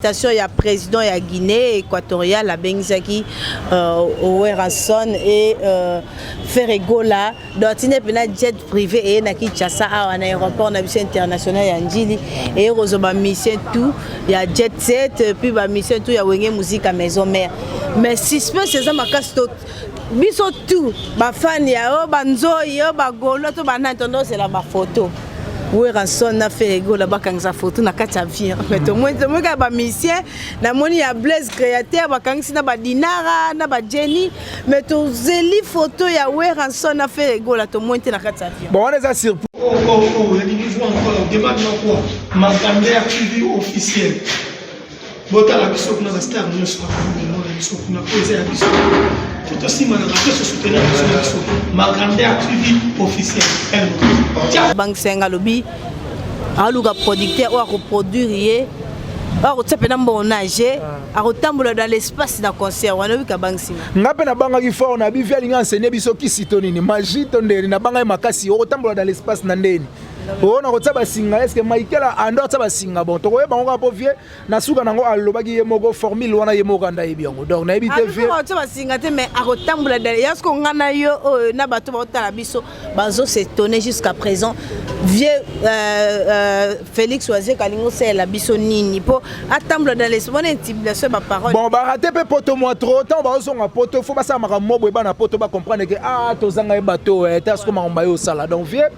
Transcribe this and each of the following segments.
Station ya president ya Guinée équatoriale abengisaki euh, Werrason et euh, Ferregola dotine pena jet privé eye na Kinshasa awa na aéroport na biso international ya Ndjili eye kozwa ba mission tout ya jet set puis ba mission tout ya Wenge Musique à maison mère mais suspense eza makasi to biso tout bafani ya oyo banzoi oyo bagolo to banani tondosela bafoto Werrason na Ferre Gola bakangisa photo na kati avion mais tomoni tomoni kaka ba musiciens namoni ya Blaise Créateur bakangisi na ba Dinara na ba Jenny mais tozeli photo ya Werrason na Ferre Gola tomoni te na kati avion bon wana eza surprise oh oh oh ya niveau encore demande na quoi Macander TV officiel botala biso kuna bastar nyonso bakomona na biso kuna oyo eza ya biso totosimba na bato sosutena biso na biso magrandeur tv officiel bangisenga alobi aluka producteur oyo akoproduire ye oyo akotia mpe na mbongo nage ah. akotambola dans l'espace na concert wana oyika bangisinga nga mpe nabangaki fort na bivi alinga enseigner biso kisi to nini magie to ndeni nabangaki makasi okotambola dans l'espace na ndeni oyo nakotia basinga eske michael ando atia basinga bon tokoyeba yango kaka mpo vie na suka nango alobaki ye moko formule wana ye moko anda yebi yango donc nayebi te vieatia basinga te mais akotambola dale ya soko ngai na yo oyo na bato baotala biso bazo se tonne jusqu'à présent vieux euh, euh, félix wazeka alingi osalela biso nini mpo atambola dans les mona intimidation ya baparole bon barate mpe poto mwa trop ntango bazozonga poto fo basala makambo mobwe bana poto bacomprendre ke a ah, tozanga ye bato eh, te asoko makambo baye osala donc vieux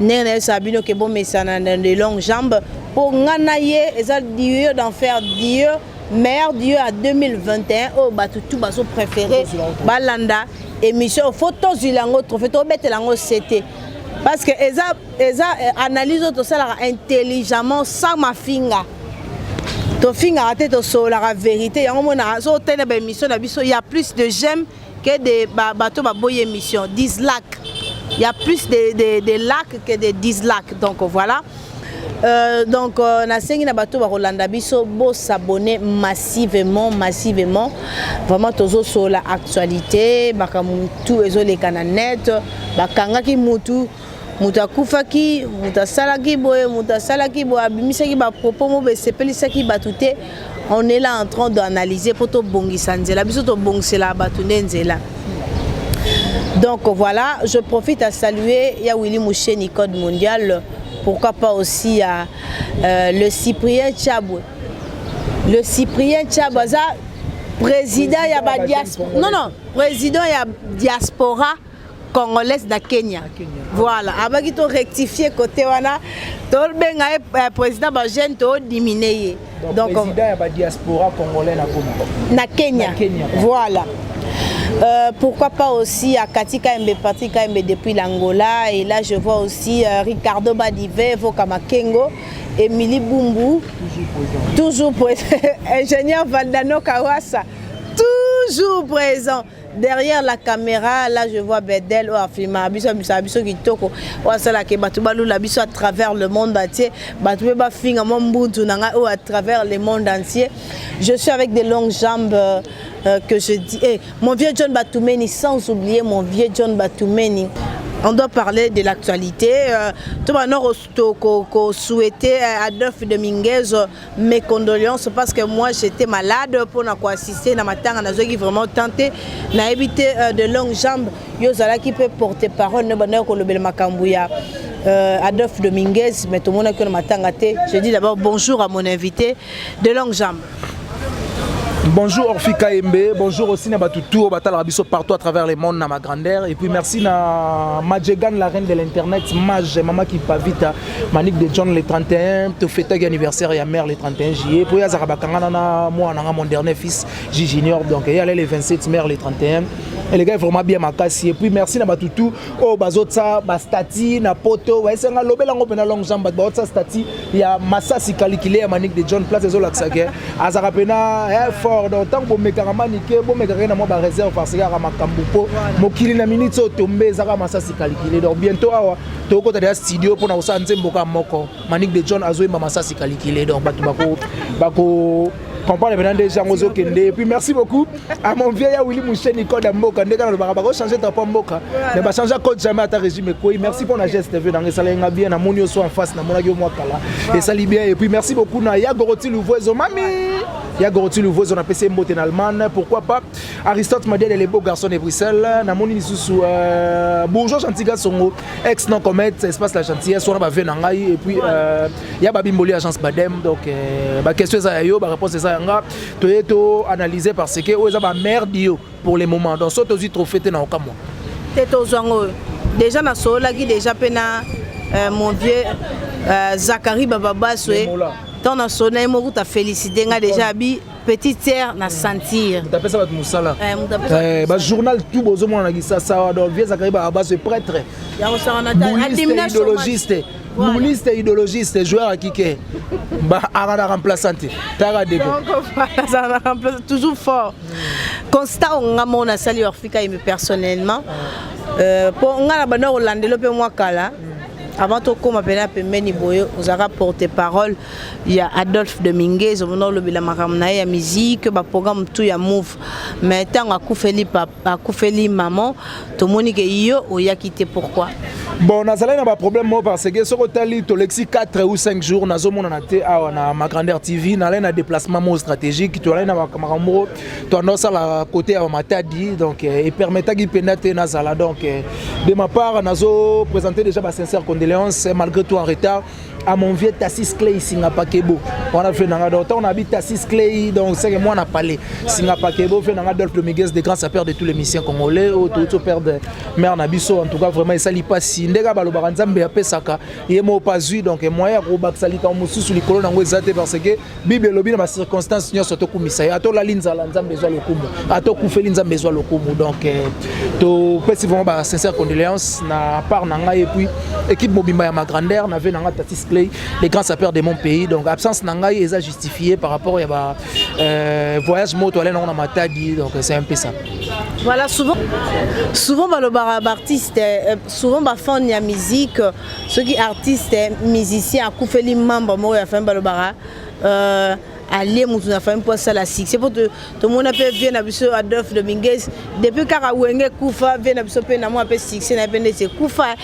ndenge nayebisaka bino ke bomesana na de longue jambe mpo ngai na ye eza dieu d'enfer dieu meilleur dieu ya 2021 oyo bato tu bazo préféré balanda émission fo tozwila yango trophée tobetela yango sete parce que eza, eza eh, analyse oyo tosalaka intelligemment sans mafinga tofingaka te tosololaka verité yango monaka so otali na baémission na biso ya plus de j'aime Que des ba, bateau ba boye émission, dislike. Il y a plus de, de, de likes que de dislikes. Donc voilà. Euh, donc euh, nasengi na bato bakolanda biso bosabone massivement massivement vraiment tozosola actualité makambo tu ezoleka na net bakangaki mutu moto akufaki moto asalaki boye moto asalaki boye abimisaki bapropos mobo esepelisaki bato te on est là en train d'analyser mpo tobongisa nzela biso tobongisela bato nde nzela donc voilà je profite à saluer ya willy moucheni code mondial pourquoi pas aussi à euh, le cyprien chabwe le cyprien chabwe aza président ya badiaspora non non président ya diaspora congolaise na kenya voilà abaki to rectifier côté wana tobenga ye eh, président bajeune todimine ye donc na kenya voilà Euh, pourquoi pas aussi à Kati Kaembe, Patrick Kaembe depuis l'Angola. Et là, je vois aussi euh, Ricardo Badive, Voka Makengo, Émilie Bumbu, toujours présent, ingénieur Valdano Kawasa, toujours présent. derrière la caméra là je vois Bedel oyo afilmaka biso abisaka biso kitoko oyo asalaka ye bato balula biso à travers le monde entier bato mpe bafinga mwa mbunzu na ngai oyo à travers le monde entier je suis avec des longues jambes euh, euh, que je dis hey, eh, mon vieux John Batoumeni sans oublier mon vieux John Batoumeni on doit parler de l'actualité euh, to banor toko ko souhaiter euh, Adolphe de Minguez euh, mes condoléances parce que moi j'étais malade pour na ko assister na matanga na zoki vraiment tenté na éviter euh, de longues jambes yo zalaki pe porter parole ne bana ko lobela makambu ya euh, Adolphe Dominguez mais tout le monde a que le matin gâté je dis d'abord bonjour à mon invité de longue jambe Bonjour Orphi Kaembe, bonjour aussi na batu tour batala biso partout à travers le monde na ma grandeur et puis merci na Majegan la reine de l'internet Maj mama qui pavita Manik de John le 31 to fêter l'anniversaire ya mère le 31 juillet pour yazaka bakangana na moi na mon dernier fils J Junior donc il allait le 27 mère le 31 et les gars vraiment bien makasi et puis merci na batu tout oh bazotsa ba stati na poto wa esenga lobela ngo pena long jambe ba stati ya masasi kalikile ya manik de john place ezolakisa ke azalaka mpena eh, fort donc ntango bomekaka manike bomekaka ye na mwa bareserve parce que yaka makambo mpo mokili na miniti oyo tombe ezaka masasi kalikile donc bientôt awa tokokota deya studio mpona kosala nzemboka moko manik de john azoyemba masasi kalikile donc bato bako comprendre maintenant nde yango ozokende puis merci beaucoup à mon vieux ya Willy Moucheni code ya mboka nde kaka lobaka bako changer drapeau mboka mais ba changer code jamais ata régime ekweyi merci mpo na geste vieux nanga esalaki nga bien namoni yo so en face namonaki yo mwa kala esali bien et puis merci beaucoup na ya goroti luvuezo mami ya goroti luvuezo napesi ye mbote na allemagne pourquoi pas aristote madiale le beau garçon de bruxelles namoni lisusu euh, bourgeois gentil gasongo ex non comète espace la gentillesse wana ba vieux na ngai et puis euh, ya babimboli agence badem donc euh, baquestion eza ya yo baréponse eza ya nga toye to analyse parce que oyo eza bamerde yo pour le moment donc so tozwi trophée te na okamwa te tozwa ngo oyo déjà nasololaki déjà mpe na euh, mon vieux euh, zakari bababaswe ntango nasolo na ye moko ta félicité nga déjà abi petite sœur na sentir mutapesa bato mosala eh, eh, bajournal tout bozomona na kisasa donc vieux zakari bababaswe prêtre idologiste Mouliste, idologiste, joueur à kicker. Bah, Arana remplaçante. Tara Debo. Arana remplaçante, toujours fort. Constat, on a mon assali Orfika et personnellement. Euh, pour on a la banane hollandaise, le peu moins kala. avant tokóma mpena pembeni boye ozalaka porte parole ya adolphe de minguez omona olobela makambo na ye ya miziki baprograme tu ya move mais ntango akufeli papa bakufeli maman tomoni ke yo oyaki te pourquoi bon nazalaki na baproblème moko parce que soki otali tolekisi 4 ou 5 jours nazomonana te awa na ma grandeur tv nalai na déplacement moko stratégique tolai na makambo moko toanda osala côté ya bamatadi donc euh, epermetaki mpenza te nazala donc euh, de ma part nazo présente déjà basincère condoléance malgré tout en retard à mon vieux Tassis Clay Singapakebo. On a fait nanga donc on habite Tassis Clay donc c'est que moi on a parlé Singapakebo fait nanga Adolphe Miguez de grand sapeur de tous les missions congolais au tout tout père de mère Nabiso en tout cas vraiment ça li pas si ndega balo baranzambe ya pesaka yemo pas eu donc moyen ko bakisa lika mususu likolo nango ezate parce que bible elobi na bacirconstance nyonso tokumisa ye ata olali nzala nzambe ezwa lokumu ata okufeli nzambe ezwa lokumu donc eh, topesi vraiment ba sincère condoléance na part na ngai epuis équipe mobimba ya ma grandeur na ve na ngai tatis clay le grand sapeur de mon pays donc absence na ngai eza justifié par rapport ya ba euh, voyage moto ale nango na matadi donc c'est un peu ça voilà souvent souvent balobaka baartiste euh, souvent bafan ya musique soki artiste musicien akufeli membre moko ya famille balobaka euh, alie motu na famille mpo asala succès mpo tomona mpe vie na biso adolphe dominguez depuis kaka wenge ekufa vie na biso mpe na mwa mpe succès na ye mpe ndeti ekufa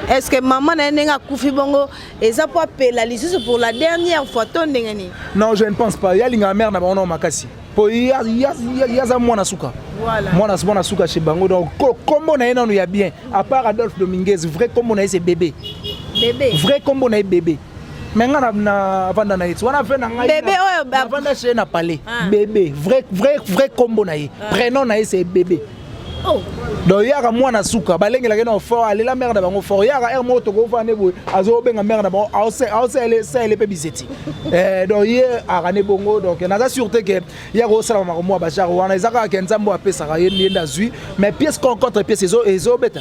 est ce que mama na ye ndenge akufi bongo eza mpo apela lisusu pour la dernière fois to ndenge nini non je ne pense pas ye alingaka mare na bango nao makasi po ye aza mwana suka mwana mwana suka chez bango donc kombo na ye nanu ya bien à part adolphe dominguez vrai kombo na ye c'est bebe vrai kombo na ye bebe me ngai navanda na ye ti wana ve na ngainavanda chez na palais ah. bebe vrai kombo na ye ah. prénom na ye c'est bebe Oh. donc yaka mwana suka balengelaka na fort alela mare na bango fort yaka heure moko tokofana nde boye azobenga mare na bango aosaele mpe bizeti eh, donc ye aka ne bongo donc naza sûre te ke ye akosalaka makambo ya bajare wana eza kaka ke nzambe apesaka ye nde azwi mais pièce contre pièce ezobeta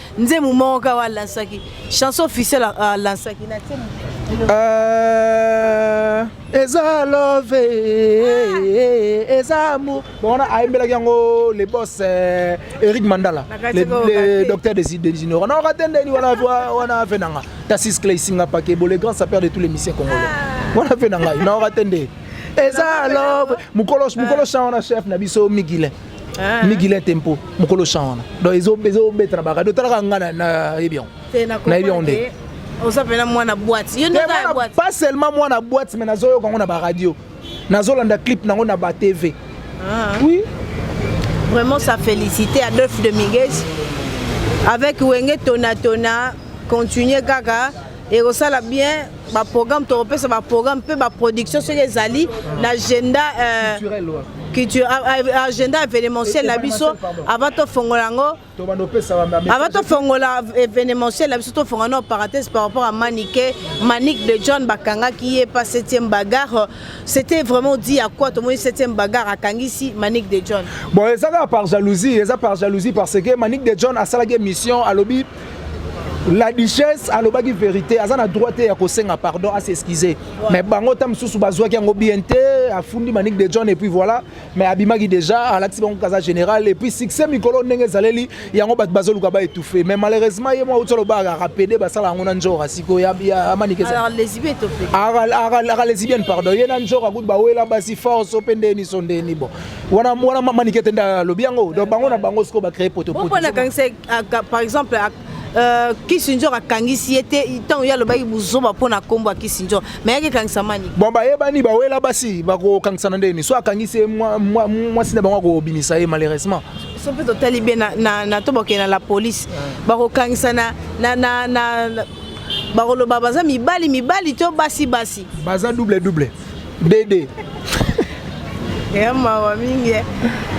nzembo moko kaka oyo alansaki chanson officiel alansaki na nzembo euh, eza love ah. eza amour bomona ayembelaki yango le boss euh, eric mandala le docteur des ignorants na okate ndeni wana afe na nga tasis clay singa pakebo le grand sapeur de tous les misien congolais ah. wana afe na ngai na okate nde eza love mokolo mokolo chant wana chef na biso migile Ah. migile tempo mokolo chan wana donc ezobeta na bakado talaka nga nayebi yango nayebi yango nde oza mpena mwana boite yo nde pas seulement mwana boite mais nazoyoka yango na baradio nazolanda clip nango na batv ah. oui vraiment ça félicité adolphe de migues avec wenge tonatona continue kaka ekosala bien baprogramme tokopesa baprogramme mpe baproduction soki ezali na agenda euh, agenda événementiel na biso avant tofongola yango avant tofongola événementiel na biso tofongola na parenthèse par rapport à manike manik de john bakangaki ye pa 7e bagarre c'était vraiment dit à quoi tomoni 7e bagarre akangisi manik de john bon eza kaka par jalousie eza par jalousie parce que manik de john asalaki émission alobi la duchesse alobaki verité aza na droit te ya kosenga pardon a s'excuse mais bango ta mosusu bazwaki yango bien te afundi manik de john epuis voilà mais abimaki déjà alakisi bango kaza général epuis succès mikolo ndenge ezaleli yango bato bazoluka ba étouffe mais malheureusement ye mwa outi alobaka rapede basala yango na njora sikoyo amanikeaka lesibienne pardon ye na njora kutu bawela basi force mpe ndeni so ndeni bon wana manikete nde alobi yango donc bango na bango sikoyo bacree potopoto Ah, par exemple ah, euh, Kissinger akangisi ye te ntango ye alobaki buzoba mpo na nkombo ya Kissinger me yaki ekangisa mani bon bayebani bawela basi bakokangisana nde nini so akangisi ye mwasi na bango akobimisa ye malheureusement so mpe totali be na to bakende na la police bakokangisana bakoloba baza mibali mibali to basi basi baza double double Dede. ya mawa mingi eh.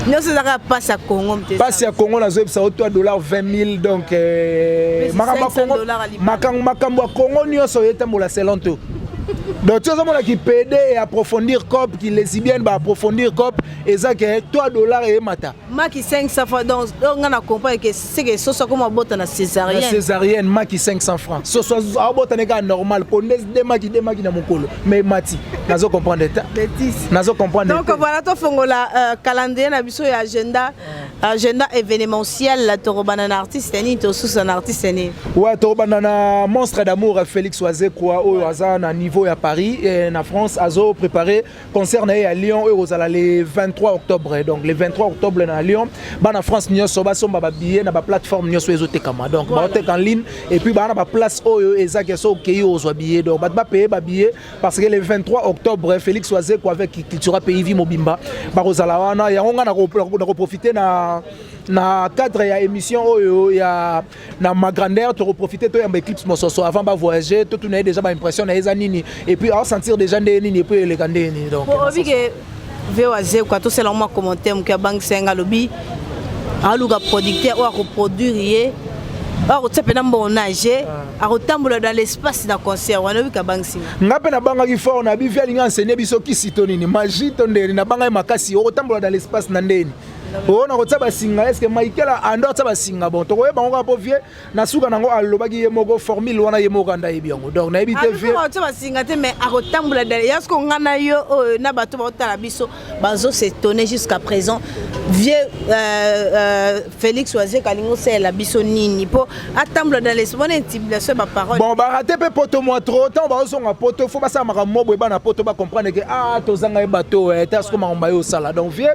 nyonso ezaka mpasi ya congo mpasi ya congo nazoyebisa yo to dollar 20000 donc eh, makambo makambo ya congo nyonso oyetambola selonto donc toza mona ki pede et approfondir cop ki lesibienne ba approfondir cop eza ke 3 dollars et mata maki 500 francs donc donc nga na comprendre que c'est que soso akoma bota na césarienne na césarienne maki 500 francs soso abota ne ka normal konde de maki de maki na mokolo mais mati nazo comprendre ta bêtise nazo comprendre donc voilà to fongola euh, calendrier na biso ya agenda agenda événementiel la torobana na artiste ni to sous un artiste ni ouais torobana na monstre d'amour Félix Wazekwa oyo aza na niveau ya Paris et na France azo préparer concert na ye ya Lyon oyo ekozala le 23 octobre donc le 23 octobre na Lyon bana France nyonso basomba ba billets na ba plateforme nyonso ezotekama donc voilà. baoteka en ligne et puis bana ba place oyo ezaki so okei ozwa billet donc bato bapaye ba billets parce que le 23 octobre Félix Wazeko avec Cultura Pays Vie mobimba bakozala wana yango ngai nakoprofite na na cadre ya émission oyo ya na ma grandeur toko profiter to yamba eclipse mososo avant ba voyager to tuna déjà ba impression na eza nini et puis a sentir déjà ndenge nini et puis eleka ndenge nini donc pour obi que VOA Zeko to sela moi commentaire muki abangisa nga lobi aluka producteur oyo akoproduire ye akotia mpe na mbonage ah. akotambola dans l'espace na concert wana oyoki abangisi nga mpe nabangaki fort na bivi alingi anseigne biso kisi to nini magi to ndeni nabangaki makasi okotambola dans l'espace na ndeni oyo nakotia basinga eske michael ando atia basinga bon tokoyeba bango kaka mpo vie na suka nango alobaki ye moko formule wana ye moko anda ayebi yango donc nayebi te vie akotia basinga te mais akotambola dale ya siko ngai na yo oyo na bato baotala biso bazo s'étonner jusqu'à présent vieux euh, euh, félix wazie kalingi osalela biso nini mpo atambola dans les mona intimidation ya baparole bon barate mpe poto mwa trop ntango baozonga poto fo basala makambo mwa boye bana poto bacomprendre ke a ah, tozanga ye bato eh, te asiko makambo baye osala donc vieux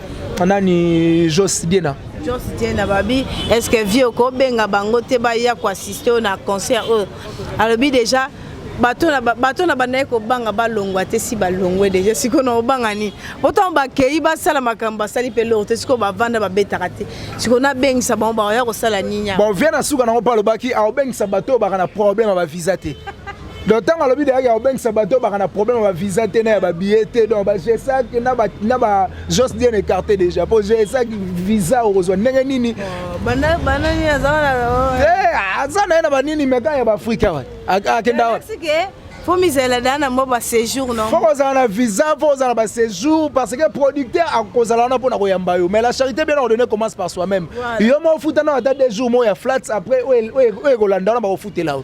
nani jos diena jos diena babi est ce que vie okobenga bango te baya koassiste oyo na concert oyo alobi déjà bato na bandaki kobanga balongwa te si balongwe deja sikoyo na obanga nini otango bakei basala makambo basali mpe loko te sikoyo bavanda babetaka te sikoyo nabengisa bango bakoya kosala nini bovia na suka nango mpe alobaki aobengisa bato oyo baka na problème ya bavisa te donc ntango alobi dayaki ya kobengisa bato obaka na problème ya bavisa te na ya babillet te donc bagesac na bajos bien écarté déjà mpo gesac visa okozwa ndenge nini aza na ye na banini meka ya baafrika wa akenda wa fo mizala da na mwa baséjour no fo kozala na visa fo kozala na baséjour parce que producteur akozala wana mpo na koyamba yo mais la charité bien ordonnée commence par soi-même yo mo ofuta na ata deux jours mo ya flats après oyo ekolanda wana bakofutela yo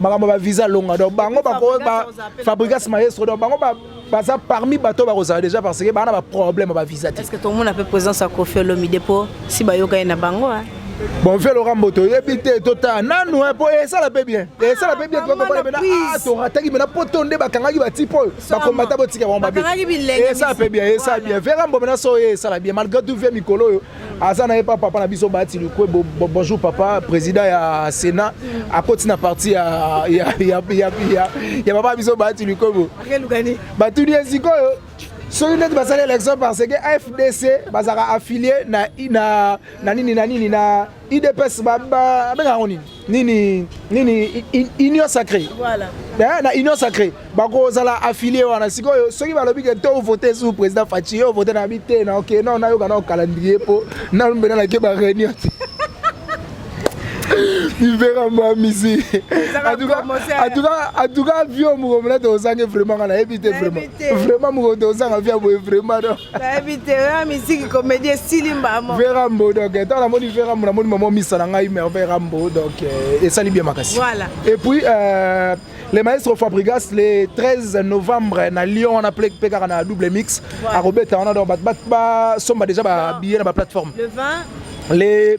makambo ba visa longa donc bango bako ba fabrigas maestro donc bango ba baza parmi bato bakozala déjà parce que bana ba problème ba visa te est-ce que tout le monde a fait présence à Koffi Olomide po si ba yoka na bango hein bon mpe loka mboto oyebi te totala nanu mpo eh, esala mpe bien ah, esala mpe bien ah, torataki mena mpo to nde bakangaki batipe oyo bakombata botika bango babiesala mpe bien esala bien vera mbomena so oyo esala bien malgré tout vie mikolo oyo aza na ye pa papa na biso bati lukwe bo, bo, bonjour papa président ya sénat akoti na parti ya, ya, ya, ya, ya, ya papa biso bati lukwe bo batuni ye sikoyo soki ndeti basali élection parce que fdc bazalaka affilié na, na, na nini na nini na udps abengaka yango nini nini nini union sacré voilà. eh, na union sacré bakozala affilie wana sikoyo soki balobi ke to vote sous président faci yo vote na bi te na oke no nayoka nao calendrier mpo nalombela nake baréunion te mivera mbamisi atuka vio mokolo mona tozange vraiment nga nayebi te vraiment vraiment mokolo tozanga via boye vraiment nayebi te oya miziki komedi esili mbamo vera mbo donc ntango namoni vera mbo namoni mama misa na ngai merveille rambo donc eh, esali bien makasi voilà et puis euh, le maestro fabrigas le 13 novembre na lyon wana mpe kaka na double mix akobeta wana donc bato basomba déjà babillet na baplateforme le 20 le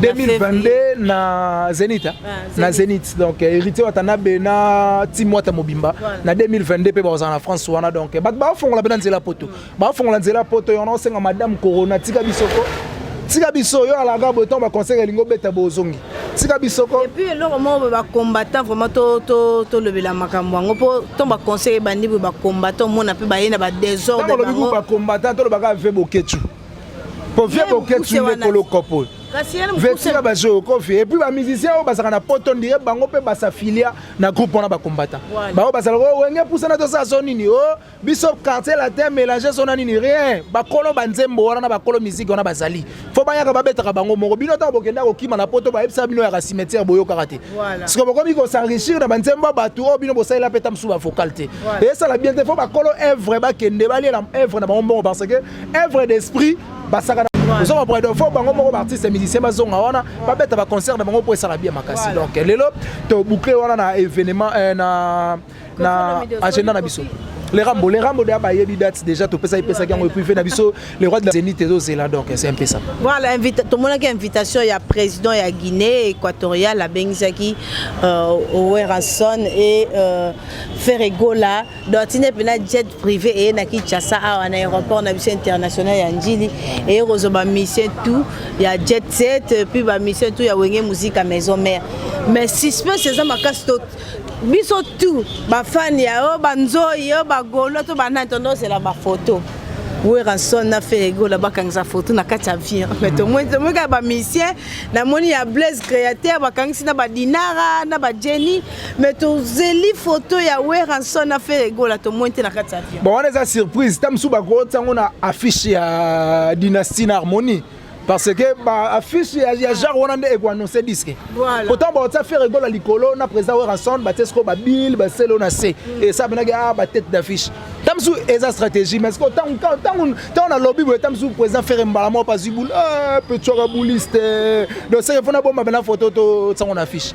2022 na Zenith hein? ah, na Zenith donc euh, héritier Watanabe na team Wata mobimba na 2022 pe bazana France wana donc ba ba fongola bena nzela poto mm. ba fongola nzela poto yona osenga madame corona tika bisoko tika biso yo alaka boye ntango baconseil elingi obeta bozongi tika biso ko epuis eloko moko boye bacombattant vraiment tolobela makambo yango mpo ntango baconseil ebandi boye bacombattant omona mpe baye na badesordre bango bacombattant tolobaka ve boketshu po vie boketsu nde kolo kopo vetika bazoyo kofi epuis bamusicien oyo bazalaka na poto ndire bango mpe basafilia na groupe wana bakombata bango bazalaka oyo oh, wenge pusana tosala so nini o oh, biso quartier latin mélange so na nini rien bakolo banzembo wana na bakolo miziki wana bazali fo bayaka babetaka bango moko bino ntango bokenda kokima na poto bayebisa bino yaka cimetière boyokaka te siko bokomi kosenrichir na banzembo ya bato oyo oh, bino bosalela mpe ta mosusu bavocal te esala bien te fo bakolo evre bakende baliela evre na bango mbongo parce que œuvre d'esprit basaka oza ba bredo fo bango moko baartiste musicien bazonga wana babeta baconcert na bango mpo esala bia makasi donc lelo toboucle wana na événement euh, na na agenda na biso le rambo le rambo deya bayebi date déjà topesa epesaki yango epuive na biso le roi de la zénith ezozela donc c'est un peu ça voilà tomonaki invitation ya président ya guinée équatoriale abengisaki euh, werrason et euh, ferregola Dortine mpe na jet privé eye na Kinshasa awa na aéroport na biso international ya Ndjili eye kozwa ba mission tout ya jet set puis ba mission tout ya Wenge Musica maison mère mais suspense eza makasi to biso tout ba fan ya yo ba nzoyi yo ba golo to ba nani tondozela ba photo weranson na feregola bakangisa foto na kati ya avion me tomonika bamisien namoni ya blaise créateur bakangisi na badinara na bajeni mais tozeli photo ya weranson na fere egola tomoni te na kati ya avion bon wana eza surprise ta mosusu bakotisa yango na affiche ya dynastie na harmonie parce que ba affiche ya, ya genre wana nde ekoannonce disque voilà. pourtant baotisa fere egola likolo na président weranson batie sikoyo babile baselo na se mm. esa penaki a ah, batete d'affiche ta mosusu eza stratégie mais sikoyo ntango nalobi boye ta mosusu président fere mbala moko azwi bul eh, petsoka buliste donc seke mpo nabomba bena foto totiango na affiche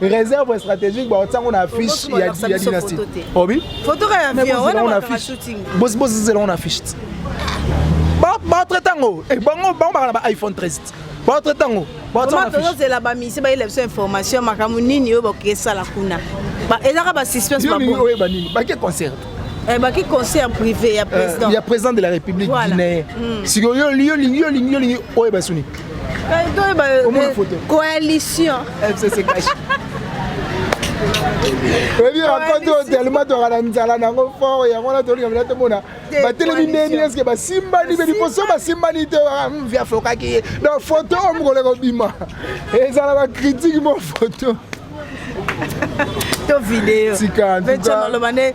réserve stratégique bakotia yango na affiche ya dynastie obi bozela yango na affiche baotre ntango eh, bango baka na ba iphone 13 baotre ntango tozozela bamisi bayela biso information makambo nini oyo bakoki esala kuna ezaka basuspense oyeba nini bake concert Eh, baki concert privé ya euh, président ya président de la république guinée hmm. sikoyo yo olingi olingi olingi oyeba soni coalition fcc kashi oyebi raconte oyo telema toyaka na nzala na yango fort yango wana tolinga mina tomona batelemi ndeni eske basimbani mpe liboso basimbani te ah, hmm, vi afokaki ye donc foto oyo mokolo ekobima ezala bakritike mo foto to video tika maloba nde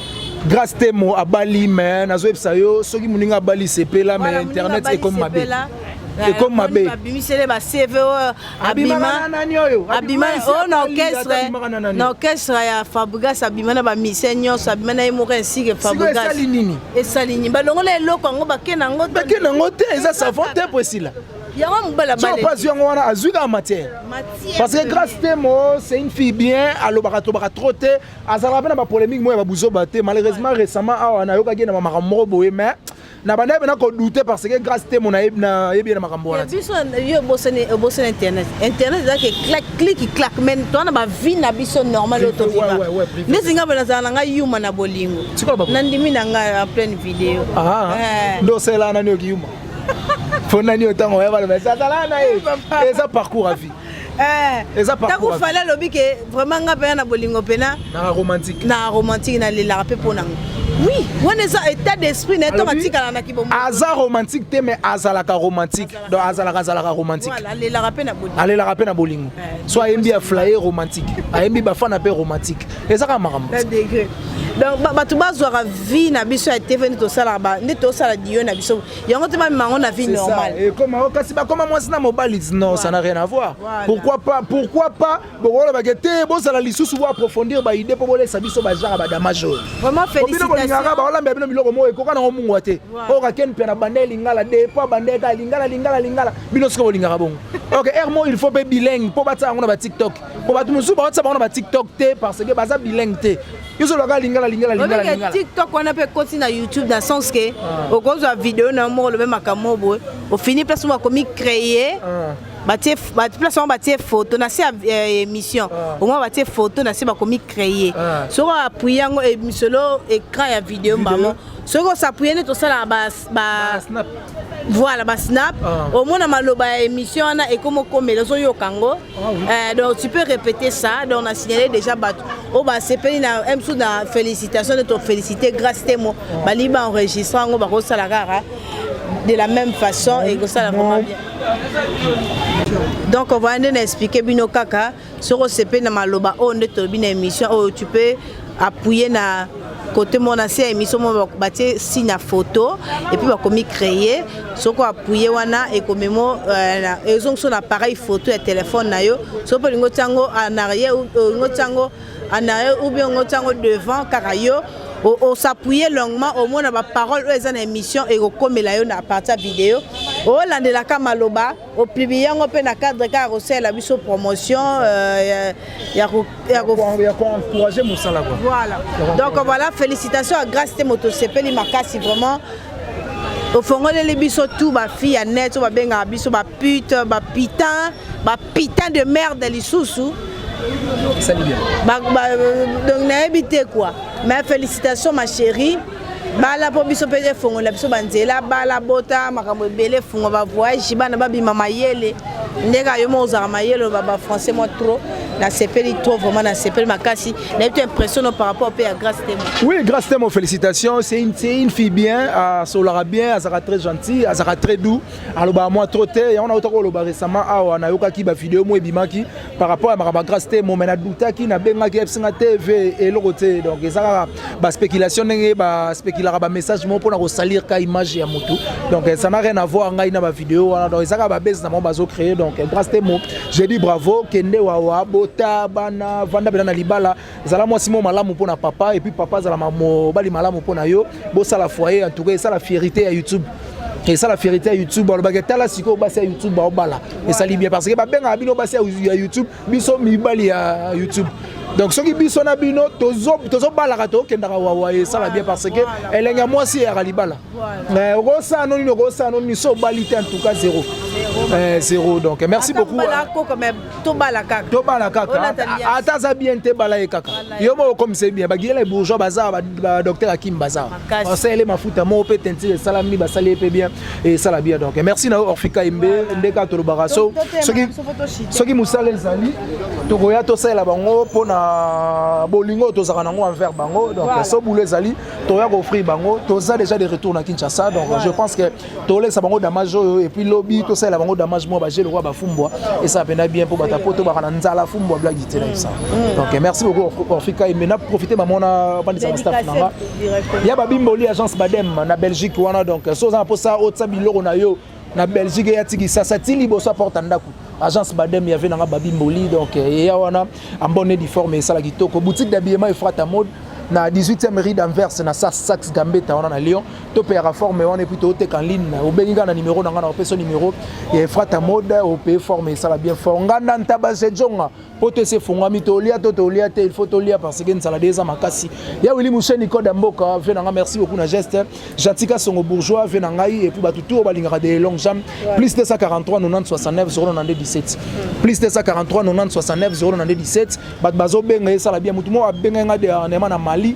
Grace Temo abali mais nazo yebisa yo soki muninga abali sepela mais internet ekomi mabe. ekomi mabe babimisele ba cv oyo abima abima oyo na orchestre na orchestre ya fabrigas abima na bamise nyonso abima na ye moko esike fabrigas esali nini balongola eloko yango bake na yango bake na yango te eza savant te po esila yango mobala baleopasi yango wana azwi kaka matière parce que grace temo c'est une fille bien alobaka tobaka trop te azalaka mpe na bapolemique moko ya babuzoba te malheureusement récemment awa nayokaki ye na bamakambo moko boye mais na bandaki mpe nakodoute parce que grâce te mona nayebi ye na makambo wana biso yo obosani obosani internet internet ezalaki cliki clak mais toa na bavie na biso normal oyo toviva ndesi ngai mpe nazala na ngai yuma na bolingo nandimi na ngai en pleine video ah, eh. nde osela nani oki yuma mpo nani oyo ntango oyabaloba ezazala na ye eza parcours ya vie Eh, ntango fale alobi ke vraiment nga mpena na bolingo mpena na romantique nalelaka mpe mpo nango oui wana eza état d'esprit na ye ntango atikala na kibomo aza romantique te mais azalaka romantique donc azalaka azalaka romantique alelaka mpe na bolingo alelaka mpe na bolingo eh, so ayembi ya flaye romantique ayembi bafana mpe romantique eza kaka makambo donc bato bazwaka vie na biso ya tv nde tosalaka nde tosala diyo na biso yango te bamema yango na vie normale ekoma eh, kasi bakoma mwasi na mobali non ça n'a rien à voir pourquoi pas pourquoi pas bokolobake te bozala lisusu bo approfondir baide mpo bolesa biso bajara badamage oyo bino bolingaka baolambela bino biloko moko ekoka nango mungwa te oyo kakeni mpe na banda elingala de mpo abanda eka lingala lingala lingala bino soki bolingaka bongo ok air mo il faut mpe bilingue mpo batya yango na batiktok mpo bato mosusu baotya bango na batiktok te parce que baza bilingue te yo ozoloba kaka lingala lingala lingala Obeke lingala TikTok wana pe koti na YouTube na sens que okozwa video na moko lobe makambo boye ofini place moko komi créer Ah. batie ba- place yango batie photo na se ya eh, émission au moins batie photo na se bakomi créer Ah. soki appuye yango eh, misolo écran ya video mbamo soki osapuye nde tosalaka ba, ba, ba snap. voilà ba snap ah. omona maloba ya émission wana ekoma okomela ozoyoka yango ah, oui. euh, donc tu peux répéter ça donc na signale déjà bato oyo basepeli na msu na félicitation nde tofélicité grâce temo ah. balingi baenregistre yango bakosala kaka de la même façon ekosala vraiment bien donc voilà nde na explike bino kaka Soko sepeli na maloba oyo nde tolobi na emission oyo tu peux appuyer na kote moko na se ya émission moko batie signe ya photo epuis bakomi créer soki appuye wana ekomemo euh, ezongi so na appareil photo ya telefone na yo soki mpe olingi otya yango en arrière olingi otya yango en arrière ou bien olingi otya yango devant kaka yo osappuye longuement omona baparole oyo eza na émission ekokomela yo na partir ya video olandelaka maloba oplibi yango mpe na cadre kaka kosalela biso promotion euh, ya koencourage mosala voilà donc voilà félicitation ya grace te moto osepeli makasi vraiment ofongoleli biso tout bafille ya net oyo babengaka biso bapute bapitin bapitin de merde lisusu donc nayebi te quoi mais félicitation ma chérie bala mpo biso mpe efongola biso banzela bala bota makambo ebele efungo bavoyage bana babima mayele ndenge ayo moko ozalaka mayele oloba bafrançais mwa trop nasepeli trop vraiment nasepeli makasi nayebi to impression no par rapport mpe ya grace temo oui grace temo félicitation c'est une, une fille bien asolaka bien azalaka très gentil azalaka très doux alobaka mwa trop te yango nautaka oloba récemment awa nayokaki bavideo mwa ebimaki par rapport ya makambo ya grace te mome nadutaki nabengaki yebisi nga tv eloko te donc eza kaka baspéculation ndenge baspéculaka bamessage moko mpona kosalir ka image ya motu donc ça n'a rien à voir ngai na bavideo wana donc eza kaka babese na bango bazocreye donc grace te mo je dis bravo kende wawa bota bana vanda mpena na libala zala mwasi moko malamu mpo na papa epuis papa azala mobali malamu mpo na yo bosala foyer en tout cas esala fierité ya youtube esala fierité ya youtube balobaki tala sikoyo basi ya youtube baobala esali bien parce que babengaka bino basi ya youtube biso mibali ya youtube donc soki biso na bino tozobalaka tokendaka wawa esala bien parce que elenge ya mwasi eyaka libala okosala no nini okosala no nini so obali te en tout cas zero zero donc merci beaucoup tobala kaka tobala kaka ata aza bien te bala ye kaka yo moko okomisa ye bien bagiyela bourgeois baza badocteur akim baza basalele mafuta moko mpe tentire esalami basali ye mpe bien esala bien donc merci na yo orfika yembe nde kaka tolobaka so soki mosala ezali tokoya tosalela bango mpo na bolingo oyo tozalaka nango envers bango donc so boulot ezali toya koofrire bango toza déjà de retour na kinshasa donc je pense que tolekisa bango damage oyo epuis lobi tosalela bango damage mwa baje lokola bafumbwa esala mpena bien mpo bata mpo tobaka na nzala fumbwa blagi te na bisa mm. donc eh, merci beaucoup orfika eme na profite bamona bandisa na staff nanga ya babimboli agence badem na belgique wana donc eh, so oza na mposa otisa biloko na yo na belgique eya ti kisasa ti liboso aporta ndako agence badem yave nanga babimboli donc eh, eya wana ambone diforme esala kitoko boutique d'habillement efrata mode na 18e rue d'anvers na saxe gambeta wana na lyon to payaka forme wana epuis tooteka en ligne obengi ngai na numero na ngai na opesa numero ya efrata mode opaye forme esala bien fort nganda ntaba sejonga mpo to esi efungwami tolia to tolia te il faut tolia parce que nsala de eza makasi ya wili museni code ya mboka vie na ngai merci beaucoup na geste jatika songo bourgeois vie na ngai epuis bato tour balingaka de long jam plus 243 90 69 092 17 plus 243 90 69 092 17 bato bazobenga esala bien motu moko abengai ngai de arnema na mali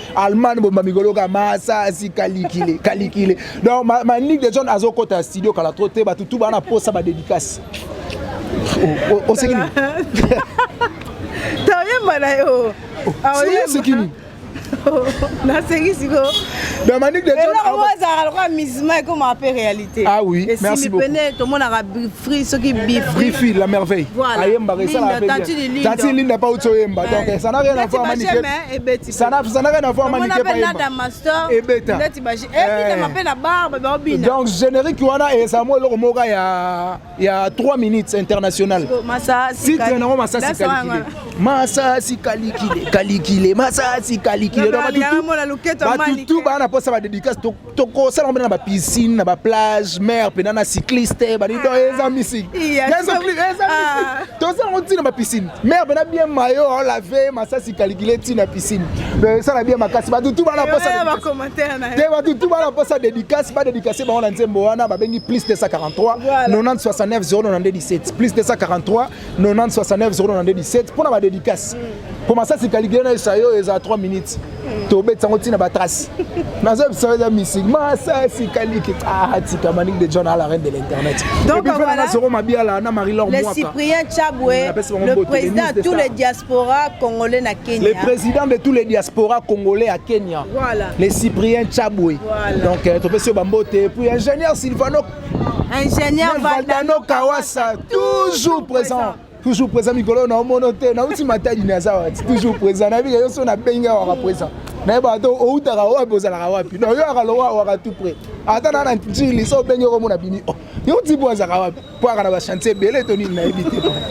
Allemagne bomba mikolo ka masasi kalikile kalikile donc manique de john azokota studio kala trop te bato tu bana posa badédicace oseki nini toyemba na yo oseki nini nasengi sikoyo eloko azalaka lokola misma ekomaka mpe réalité ah oui merci beaucoup pene tomonaka bifri soki bifri la merveille ayembaka esalaka tati linda pa uti oyemba donc ça n'a rien à voir manike Sana sana rien à voir manike pa yemba. Ebeta. Ndeti ba ebina eh. mape na barbe ba obina. Donc générique wana eza mo eloko moka ya ya 3 minutes international. Masa titre na masa sikalikile. Masa sikalikile kalikile masa sikalikile. Donc tout tout bana posa ba dédicace tokosala mpe na ba piscine na ba plage mare mpenza na cycliste banido ah. eza misiki ah. tozala yango ntina ba piscine mare mpenza bien mayo olave masasi kalikile ntina piscine esala bien makasi batutu bana te batutu bana mposa dédicace badédicace bango na nzembo wana babengi plus 243 90 69 0 92 17 plus 243 90 69 secondes na 17 mpo na badédicace mpo masasi kaligile na esa yo eza 3 minutes tobetisa yango ntina batrace naza biso eza misik masasi kaliki atika ah, manik de john ala reine de l'internet soko mabiala na marie lor le cyprien chabwe le président de tous les diaspora congolais na kenya le président de tous les diaspora congolais à kenya voilà. le cyprien chabwe voilà. donc euh, topesi yo bambote puis ingénieur sylvano ingénieur valdano kawasa toujours présent toujours présent mikolo na omono te nauti matadi na aza wati toujours présent na bika yoso na bengi awaka présent nayeba ata outaka wapi ozalaka wapi no yoyaka lowa awaka tout près ata na na ntili so obengi okomona bini o oh, yo tibo azalaka wapi po aka na bachantier ebele to nini nayebi te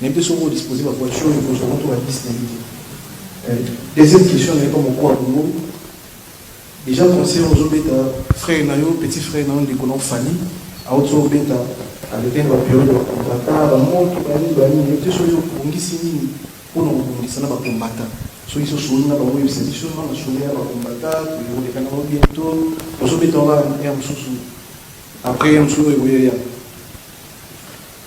Mais te soki o disposer ba voiture oyo ekozwa moto ba bus na ye te. Deuxième question na ye comme okua bongo dejà concert ozo beta frère na yo petit frère na yo ndeko na yo Fally auti obeta avec un ba periode ba combattants ba moto ba nini ba nini mais te soki obongisi nini mpo na kobongisa na ba combattants soki so soni na bango oyebisa biso na na soni ya ba combattants tokoleka na bango bientôt ozo beta wana ya mosusu après ya mosusu oyo ekoya ya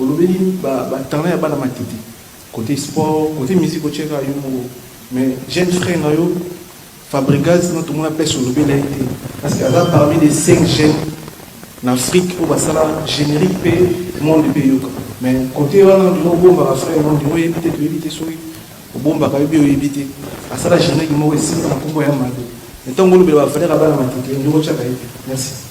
Olobeli ba ba talent ya bana matete cote sport cote musique otiaka yo moko mais jeune frère na yo Fabregas na tomona pèse olobela ye te parce que aza parmi les 5 jeunes na Afrique oyo basala générique pe monde pe yoka mais cote wana ndima obombaka frère na ndima oyebi te toyebi te soki obombaka yo bi oyebi te asala générique moko esimba na kombo ya Mado mais ntango olobela ba valeur ya bana matete ndima otiaka ye te merci.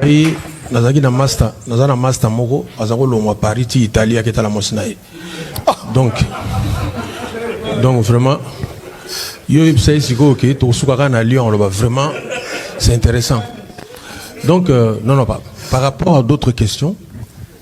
ngai nazalaki na master naza na master moko aza kolongwa paris ti italie aketala mwasi na ye donc donc vraiment yo oyebisa ye sikoyo ke tokosuka kaka na lyon oloba vraiment c'est intéressant donc euh, non non par, par rapport à d'autres questions